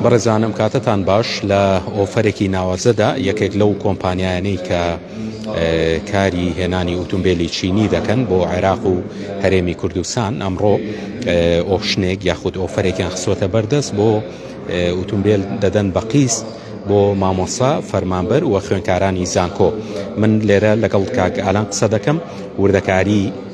بەڕێزانم کاتتان باش لە ئۆفەرێکی ناوازەدا یەکێک لەو کۆمپانیانەی کە کاری هێنانی ئۆتومبیلی چینی دەکەن بۆ عێراق و هەرێمی کوردستان ئەمڕۆ ئۆپشنێک یاخود ئۆفەرێکیان خسۆتە بەردەست بۆ ئۆتومبیل دەدەن بە قیست بۆ مامۆسا فەرمانبەر و خوێنکارانی زانکۆ من لێرە لەگەڵ کاک ئالان قسە دەکەم وردەکاری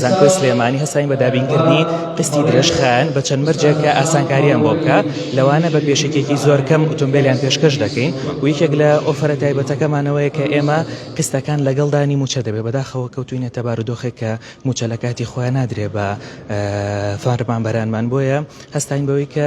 زانکۆی سلێمانی هەستاین بە دابینکردنی قستی درێژخایەن بە چەند مەرجێک کە ئاسانکاریان بۆ بکە لەوانە بە پێشێکێکی زۆر کەم ئۆتۆمبیلیان پێشکەش دەکەین و یەکێک لە ئۆفرە تایبەتەکەمانەوەی کە ئێمە قستەکان لەگەڵدانی موچە دەبێت بەداخەوە کەوتوینە تەبارودۆخێک کە موچە لە کاتی خۆیان نادرێ بە فەرمانبەرانمان بۆیە هەستاین بەوەی کە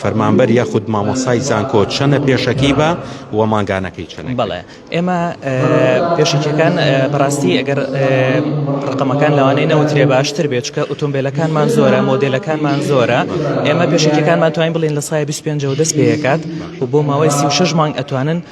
فەرمانبەر یاخود مامۆسای زانکۆ چەنە پێشەکی بە و مانگانەکەی چەند بڵێ ئێمە پێشەکیەکان بەڕاستی ئەگەر ڕقەمەکان لەوانەیە نەوترێ باشتر بێچکە ئۆتۆمبیلەکانمان زۆرە مۆدلەکانمان زۆرە ئێمە پێشەکیەکانمان توانین بڵین لە سای 25 دەست پێکات و بۆ ماوەی 36 مانگ ئەتوانن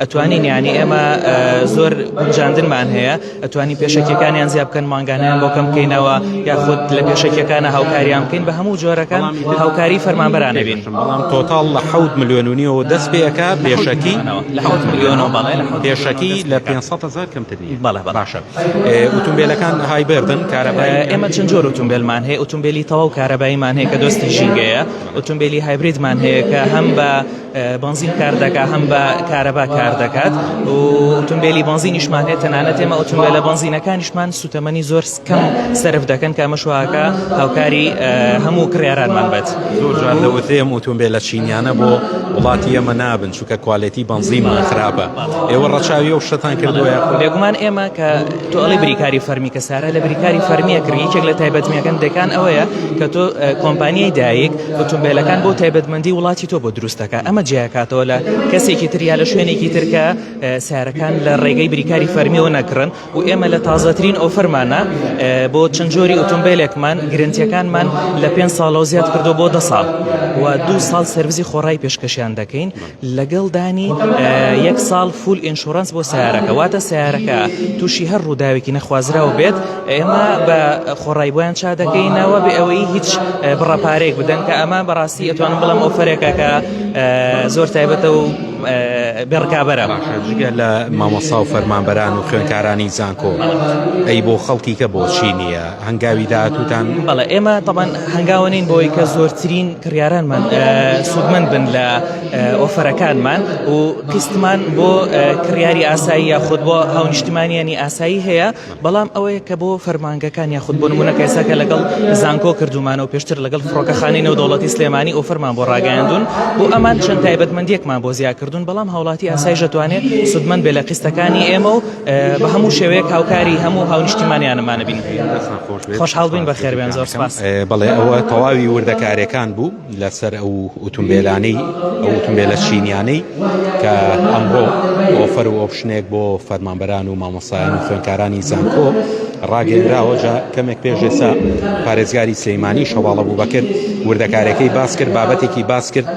ئەتوانین یانی ئێمە زۆر گونجاندنمان هەیە ئەتوانین پێشەکیەکانیان زیاب بکەن مانگانیان بۆ کەم بکەینەوە یاخود لە پێشەکیەکانە هاوکاریان بکەین بە هەموو جۆرەکان هاوکاری فەرمانبەران نبین بەڵام تۆتاڵ لە حوت ملیۆنونیەوە دەست پێەکە پێشەکی لە حوت ملیۆنەوە بەڵێ پێشەکی لە 500 هزار کەمتر بەڵێ باشە ئوتومبیلەکان های بردن کارەبای ئێمە چەند جۆر ئوتومبیلمان هەیە ئوتومبیلی تەواو کارەباییمان هەیە کە دۆستی ژینگەیە ئوتومبیلی هایبریدمان هەیە کە هەم بە بەنزین کار دەکات هەم بە کارەبا کار دەکات و ئۆتۆمبیلی بەنزینیشمان هەیە تەنانەت ئێمە ئۆتۆمبیلە بەنزینەکانیشمان سوتەمەنی زۆر کەم سرف دەکەن کە ئەمە شوواکە هاوکاری هەموو کڕێرانمان بێت زۆر جوان دەوتێم ئۆتۆمبیلە چینیانە بۆ وڵاتی ئێمە نابن چونکە کوالێتی بەنزینمان خراپە ئێوە ڕەچاوی و شتان کردووە بێگومان ئێمە کە تۆ ئەڵی بریکاری فەرمی کە سارە لە بریکاری فەرمیە کڕی یەکێک لە تایبەتمیەکەن دەکان ئەوەیە کە تۆ کۆمپانیای دایک ئۆتۆمبێلەکان بۆ تایبەتمەندی وڵاتی تۆ بۆ دروست دەکە ئەمە جیاکاتەوە لە کەسێکی تریا لە شوێنێکی ترکە سارەکان لە ڕێگەی بریکاری فەرمیەوە نەکڕن و ئێمە لە تازەترین ئەو فەرمانە بۆ چەند جۆری ئۆتۆمبیلێکمان گرنتیەکانمان لە پێ ساڵەوە زیاد کردو بۆ دە ساڵ و دو ساڵ سرویسی خۆڕای پێشکەشیان دەکەین لەگەڵ دانی یەک ساڵ فول ئینشورنس بۆ سیارەکە واتە سیارەکە تووشی هەر ڕووداوێکی نەخوازراوە بێت ئێمە بە خۆڕای بۆیان چا دەکەینەوە بێ ئەوەی هیچ بڕەپارێک بدەن کە ئەمە بەڕاستی ئەتوانم بڵم ئەو فەرێکە کە زۆر تایبەتە و بێڕکابەرە جگە لە مامۆسا و فەرمانبەران و خوێنکارانی زانکۆ ئەی بۆ خەڵکی کە بۆچی نییە هەنگاوی داهاتووتان؟ بەڵێ ئێمە تەبەن هەنگاوە نین بۆی کە زۆرترین کڕیارانمان سوودمەند بن لە ئۆفەرەکانمان و قیستمان بۆ کڕیاری ئاسایی یاخود بۆ هاونیشتمانیانی ئاسایی هەیە بەڵام ئەوەیە کە بۆ فەرمانگەکان یاخود بۆ نمونە کەساکە لەگەڵ زانکۆ کردومانە و پێشتر لەگەڵ فڕۆکەخانەی نێودەوڵەتی سلێمانی ئۆفەرمان بۆ ڕاگەیاندون بۆ ئەمان چەند تایبەتمەندێکمان بۆ زیاکردون بەڵام هاوڵاتی ئاسایش دەتوانێت سوودمەند بێ لە قیستەکانی ئێمە و بە هەموو شێوەیەک هاوکاری هەموو هاونیشتیمانیانمانە بین خۆشحاڵ بووین بەخێر بێن زۆر سپاس بەڵێ ئەوە تەواوی وردەکارەکان بوو لەسەر ئەو ئوتومبیلانەی ئەو ئوتومبیلە چینیانەی کە ئەمڕۆ ئۆفەر و ئۆپشنێک بۆ فەرمانبەران و مامۆسایان و خوێنکارانی زانکۆ ڕاگەێنراوە جا کەمێک پێشێسا پارێزگاری سلەیمانی شەواڵە بوو بەکرد وردەکارەکەی باس کرد بابەتێکی باس کرد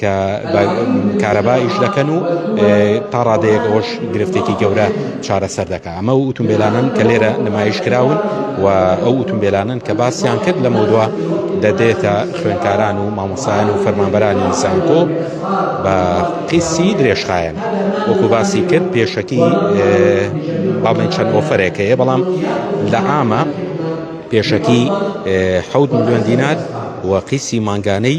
کە بە کارەبا ئیش دەکەن و تا ڕادەیەک ئەوەش گرفتێکی گەورە چارەسەر دەکە ئەمە و ئوتومبیلانن کە لێرە نمایش کراون و ئەو ئوتومبیلانن کە باسییان کرد لە مەودوا دەدێتە خوێنکاران و مامۆسایان و فەرمانبەرانی زانکۆ بە قیسی درێژخایەن وەکو باسی کرد پێشەکی باڵێن چەند ئۆفرێک هەیە بەڵام لە ئامە پێشەکی حەوت ملیۆن دینار و قیسی مانگانەی